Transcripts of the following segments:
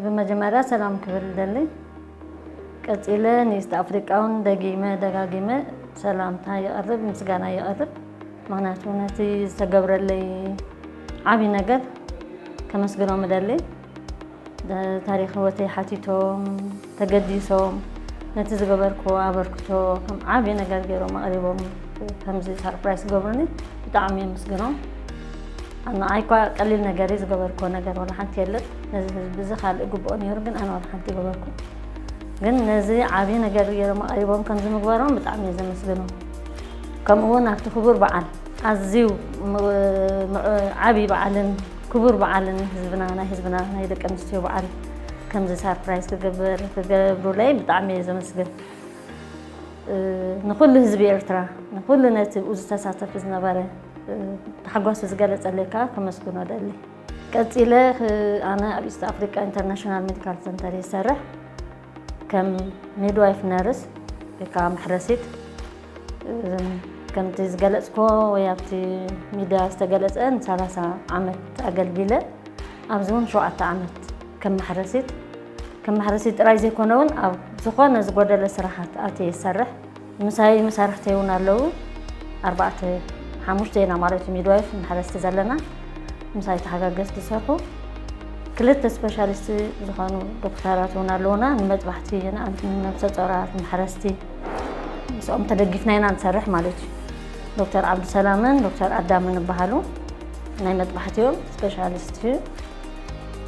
ብመጀመርያ ሰላም ክብል ይደሊ ቀጺለ ንኢስት ኣፍሪቃውን ደጊመ ደጋጊመ ሰላምታ ይቐርብ ምስጋና ይቐርብ ምክንያቱ ነቲ ዝተገብረለይ ዓብይ ነገር ከመስግኖም እደሊ ታሪክ ህወተይ ሓቲቶም ተገዲሶም ነቲ ዝገበርክዎ ኣበርክቶ ከም ዓብዪ ነገር ገይሮም ኣቕሪቦም ከምዚ ሳርፕራይዝ ዝገብሩኒ ብጣዕሚ የመስግኖም። ንዓይ እኳ ቀሊል ነገር እዩ ዝገበርክዎ ነገር ዋላ ሓንቲ የለን። ነዚ ህዝቢ እዚ ካልእ ግብኦ ነይሩ ግን ኣነ ዋላ ሓንቲ ገበርኩ። ግን ነዚ ዓብዪ ነገር ገይሮም ኣቕሪቦም ከምዚ ምግባሮም ብጣዕሚ እየ ዘመስግኖም። ከምኡ እውን ኣብቲ ክቡር በዓል ኣዝዩ ዓብዪ በዓልን ክቡር በዓልን ህዝብና ናይ ህዝብና ናይ ደቂ ኣንስትዮ በዓል ከምዚ ሳርፕራይዝ ክገብር ክገብሩለይ ብጣዕሚ እየ ዘመስግን ንኩሉ ህዝቢ ኤርትራ ንኩሉ ነቲ ብኡ ዝተሳተፍ ዝነበረ ታሕጓሱ ዝገለፀለይ ከዓ ከመስግኖ ደሊ ቀፂለ ኣነ ኣብ ኢስት ኣፍሪካ ኢንተርናሽናል ሜዲካል ሰንተር ይሰርሕ ከም ሚድዋይፍ ነርስ ወይ ከዓ መሕረሲት ከምቲ ዝገለፅክዎ ወይ ኣብቲ ሚድያ ዝተገለፀ ንሰላሳ ዓመት ኣገልጊለ ኣብዚ እውን ሸውዓተ ዓመት ከም ማሕረሲት ከም ማሕረሲት ጥራይ ዘይኮነ እውን ኣብ ዝኾነ ዝጎደለ ስራሓት ኣትየ ይሰርሕ ምሳይ መሳርሕተይ እውን ኣለዉ ኣርባዕተ ሓሙሽተ ኢና ማለት እዩ ሚድዋይፍ ማሕረስቲ ዘለና ምሳይ ተሓጋገዝ ዝሰርሑ ክልተ ስፔሻሊስት ዝኾኑ ዶክተራት እውን ኣለዉና ንመጥባሕቲ ንኣንት ንነብሰ ፆራት ማሕረስቲ ምስኦም ተደጊፍና ኢና ንሰርሕ ማለት እዩ ዶክተር ዓብዱሰላምን ዶክተር ኣዳምን ይበሃሉ ናይ መጥባሕቲ እዮም ስፔሻሊስት እዩ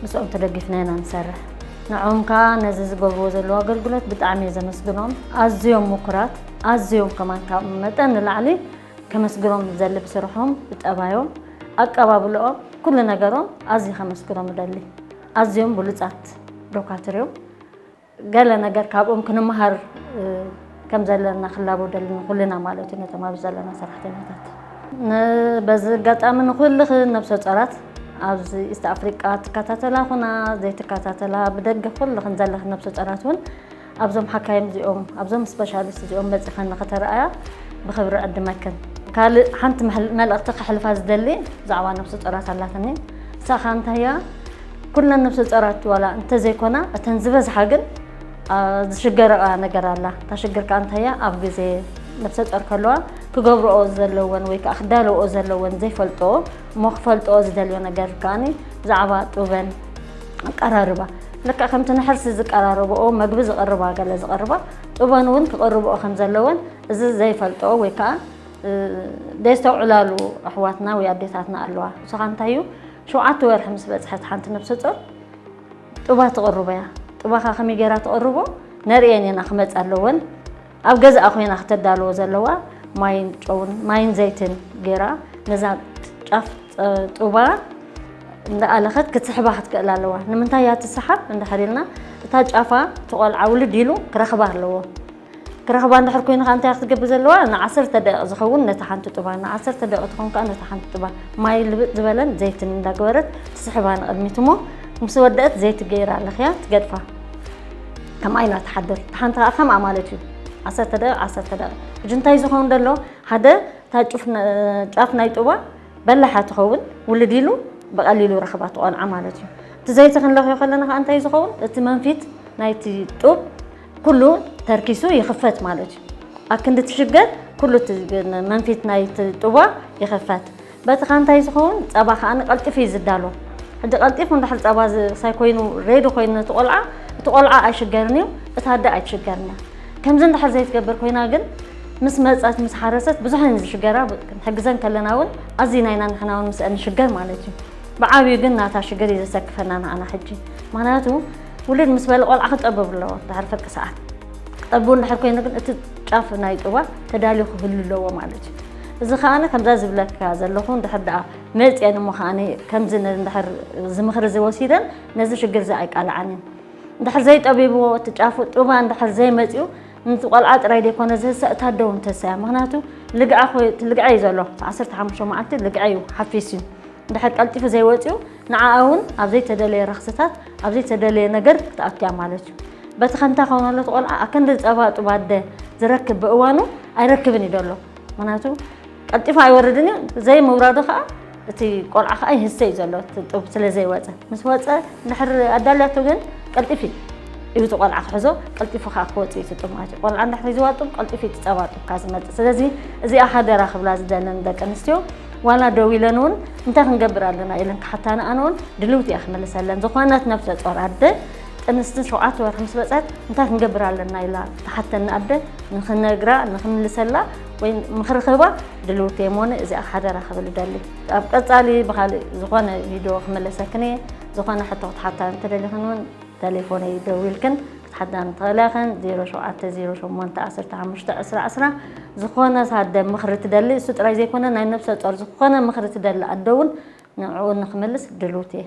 ምስኦም ተደጊፍና ኢና ንሰርሕ ንዕኦም ከዓ ነዚ ዝገብርዎ ዘለዎ ኣገልግሎት ብጣዕሚ እየ ዘመስግኖም ኣዝዮም ምኩራት ኣዝዮም ከማን ካብ መጠን ንላዕሊ ከመስግኖም ዘሊ ብስርሖም ብጠባዮም ኣቀባብልኦም ኩሉ ነገሮም ኣዝዩ ከመስግኖም እደሊ ኣዝዮም ብሉፃት ዶካትር እዮም ገለ ነገር ካብኦም ክንመሃር ከም ዘለና ክላቦደል ንኹልና ማለት እዩ ነቶም ኣብዚ ዘለና ሰራሕተኛታት በዚ ኣጋጣሚ ንኹልኽ ነብሰ ፀራት ኣብዚ ኢስት ኣፍሪቃ ትከታተላ ኹና ዘይትከታተላ ብደገ ኩልኽን ዘለኽ ነብሰ ፀራት እውን ኣብዞም ሓካይም እዚኦም ኣብዞም ስፔሻሊስት እዚኦም መፂኸን ንክተረኣያ ብክብሪ ዕድመክን ካልእ ሓንቲ መልእኽቲ ከሕልፋ ዝደሊ ብዛዕባ ነብሲ ጦራት ኣላትኒ ንሳኻ እንታይ እያ ኩለን ነብሰ ጸራት ዋላ እንተዘይኮና እተን ዝበዝሓ ግን ዝሽገረኣ ነገር ኣላ እታ ሽግር ከዓ እንታይ እያ ኣብ ግዜ ነብሰ ጸር ከለዋ ክገብረኦ ዘለወን ወይ ከዓ ክዳለወኦ ዘለወን ዘይፈልጦ እሞ ክፈልጦኦ ዝደልዮ ነገር ከዓኒ ብዛዕባ ጡበን ኣቀራርባ ልክዕ ከምቲ ንሕርሲ ዝቀራረብኦ መግቢ ዝቕርባ ገለ ዝቕርባ ጥበን እውን ክቕርብኦ ከም ዘለወን እዚ ዘይፈልጦ ወይ ከዓ ደይስተውዕላሉ ኣሕዋትና ወይ ኣዴታትና ኣለዋ ንስኻ እንታይ እዩ ሸውዓተ ወርሒ ምስ በጽሐት ሓንቲ ነብሰ ጾር ጥባ ትቕርቦ እያ። ጥባኻ ከመይ ጌራ ትቕርቦ ነርእየን ኢና ክመጻ ኣለወን። ኣብ ገዛኣ ኮይና ክተዳልዎ ዘለዋ ማይን ጨውን ማይን ዘይትን ጌራ ነዛ ጫፍ ጥባ እንዳኣለኸት ክትስሕባ ክትክእል ኣለዋ። ንምንታይ እያ ትስሓብ እንድሕር ኢልና እታ ጫፋ ትቆልዓ ውልድ ኢሉ ክረኽባ ኣለዎ። ክረኽባ እንድሕር ኮይኑ ከኣ እንታይ ክትገብር ዘለዋ ንዓሰርተ ደቂቕ ዝኸውን ነታ ሓንቲ ጡባ ንዓሰርተ ደቂቕ ትኾን ከኣ ነታ ሓንቲ ጡባ ማይ ልብጥ ዝበለን ዘይትን እንዳገበረት ትስሕባ ንቕድሚት እሞ ምስ ወደእት ዘይቲ ገይራ ለኽያ ትገድፋ ከምኣ ኢላ ትሓድር እቲ ሓንቲ ከኣ ከምኣ ማለት እዩ ዓሰርተ ደቂቕ ዓሰርተ ደቂቕ ሕጂ እንታይ ዝኸውን ደሎ ሓደ እታ ጫፍ ናይ ጡባ በላሓ ትኸውን ውልድ ኢሉ ብቐሊሉ ረኽባ ትቖንዓ ማለት እዩ እቲ ዘይቲ ክንለኽዮ ከለና ከኣ እንታይ ዝኸውን እቲ መንፊት ናይቲ ጡብ ኩሉ ተርኪሱ ይኽፈት ማለት እዩ። ኣክንዲ እቲ ሽገር ኩሉ እቲ መንፊት ናይቲ ጥዋ ይኽፈት። በቲ ከ እንታይ ዝኸውን ፀባ ከዓኒ ቀልጢፉ እዩ ዝዳሎ። ሕጂ ቀልጢፉ እንድሕር ፀባ ዝሳይ ኮይኑ ሬዲ ኮይኑ ነቲ ቆልዓ እቲ ቆልዓ ኣይሽገርን እዩ፣ እታ ኣደ ኣይትሽገርን እያ። ከምዚ እንድሕር ዘይትገብር ኮይና ግን ምስ መፀት ምስ ሓረሰት ብዙሕ እየን ዝሽገራ ክንሕግዘን ከለና እውን ኣዝዩ ናይና ንሕና እውን ምስአን ንሽገር ማለት እዩ። ብዓብዩ ግን ናታ ሽግር እዩ ዘሰክፈና ንዓና ሕጂ ምክንያቱ ውልድ ምስ በለ ቆልዓ ክጠበብ ኣለዎ ድሓር ፍርቂ ሰዓት ክጠብብ እንድሕር ኮይኑ ግን እቲ ጫፍ ናይ ጥባ ተዳልዩ ክህሉ ኣለዎ ማለት እዩ እዚ ከዓነ ከምዛ ዝብለካ ዘለኹ እንድሕር ደኣ መፅአን እሞ ከዓነ ከምዚ እንድሕር እዚ ምኽሪ እዚ ወሲደን ነዚ ሽግር እዚ ኣይቃልዓን እየን እንድሕር ዘይጠቢብዎ እቲ ጫፉ ጡባ እንድሕር ዘይመፅኡ ነቲ ቆልዓ ጥራይ ዘይኮነ ዝህሰ እታ ኣደ እውን ትህሰ እያ ምክንያቱ ልግዐ ልግዐ እዩ ዘሎ ዓሰርተ ሓሙሽተ መዓልቲ ልግዐ እዩ ሓፊስ እዩ እንድሕር ቀልጢፉ ዘይወፅኡ ንዓኣ እውን ኣብ ዘይተደለየ ረኽስታት ኣብ ዘይተደለየ ነገር ክትኣቱ እያ ማለት እዩ። በቲ ከምታ ከውነሎ እቲ ቆልዓ ኣከንዲ ጸባ ጡብ ኣደ ዝረክብ ብእዋኑ ኣይረክብን እዩ ዘሎ ምክንያቱ ቀልጢፉ ኣይወርድን እዩ ዘይምውራዱ ከዓ እቲ ቆልዓ ከዓ ይህሰ እዩ ዘሎ ጡብ ስለ ዘይወፀ ምስ ወፀ ድሕር ኣዳልያቱ ግን ቀልጢፍ እዩ እዩ እቲ ቆልዓ ክሕዞ ቀልጢፉ ከዓ ክወፅእ እዩ ትጡብ ማለት እዩ ቆልዓ እንዳ ሒዝዋ ጡብ ቀልጢፉ እዩ ትፀባ ጡብካ ዝመፅእ ስለዚ እዚኣ ሓደራ ክብላ ዝደለን ደቂ ኣንስትዮ ዋላ ደው ኢለን እውን እንታይ ክንገብር ኣለና ኢለን ክሓታኒ ኣነውን ድልውቲ እያ ክመልሰለን ዝኾነት ነብሰ ጾር ኣደ ጥንስትን ሸውዓተ ወርሒ ምስ በፀት እንታይ ክንገብር ኣለና ኢላ ትሓተኒ ኣደ ንክነግራ ንክምልሰላ ወይ ምክሪ ክህባ ድልውቲ እየ ሞነ እዚኣ ሓደራ ክብል ደሊ ኣብ ቀፃሊ ብካሊእ ዝኾነ ቪድዮ ክመለሰክን እየ ዝኾነ ሕቶ ክትሓታ እንተደሊኽን እውን ተሌፎነይ ደዊልክን ሓዳም ተክለኸን ዜሮ ሸውዓተ ዜሮ ሸሞንተ ዓሰርተ ሓሙሽተ ዕስራ ዕስራ ዝኾነ ሳደ ምኽሪ ትደሊ እሱ ጥራይ ዘይኮነ ናይ ነብሰ ጾር ዝኾነ ምኽሪ ትደሊ ኣደ ውን ንዕኡ ንኽምልስ ድሉውቲ እየ።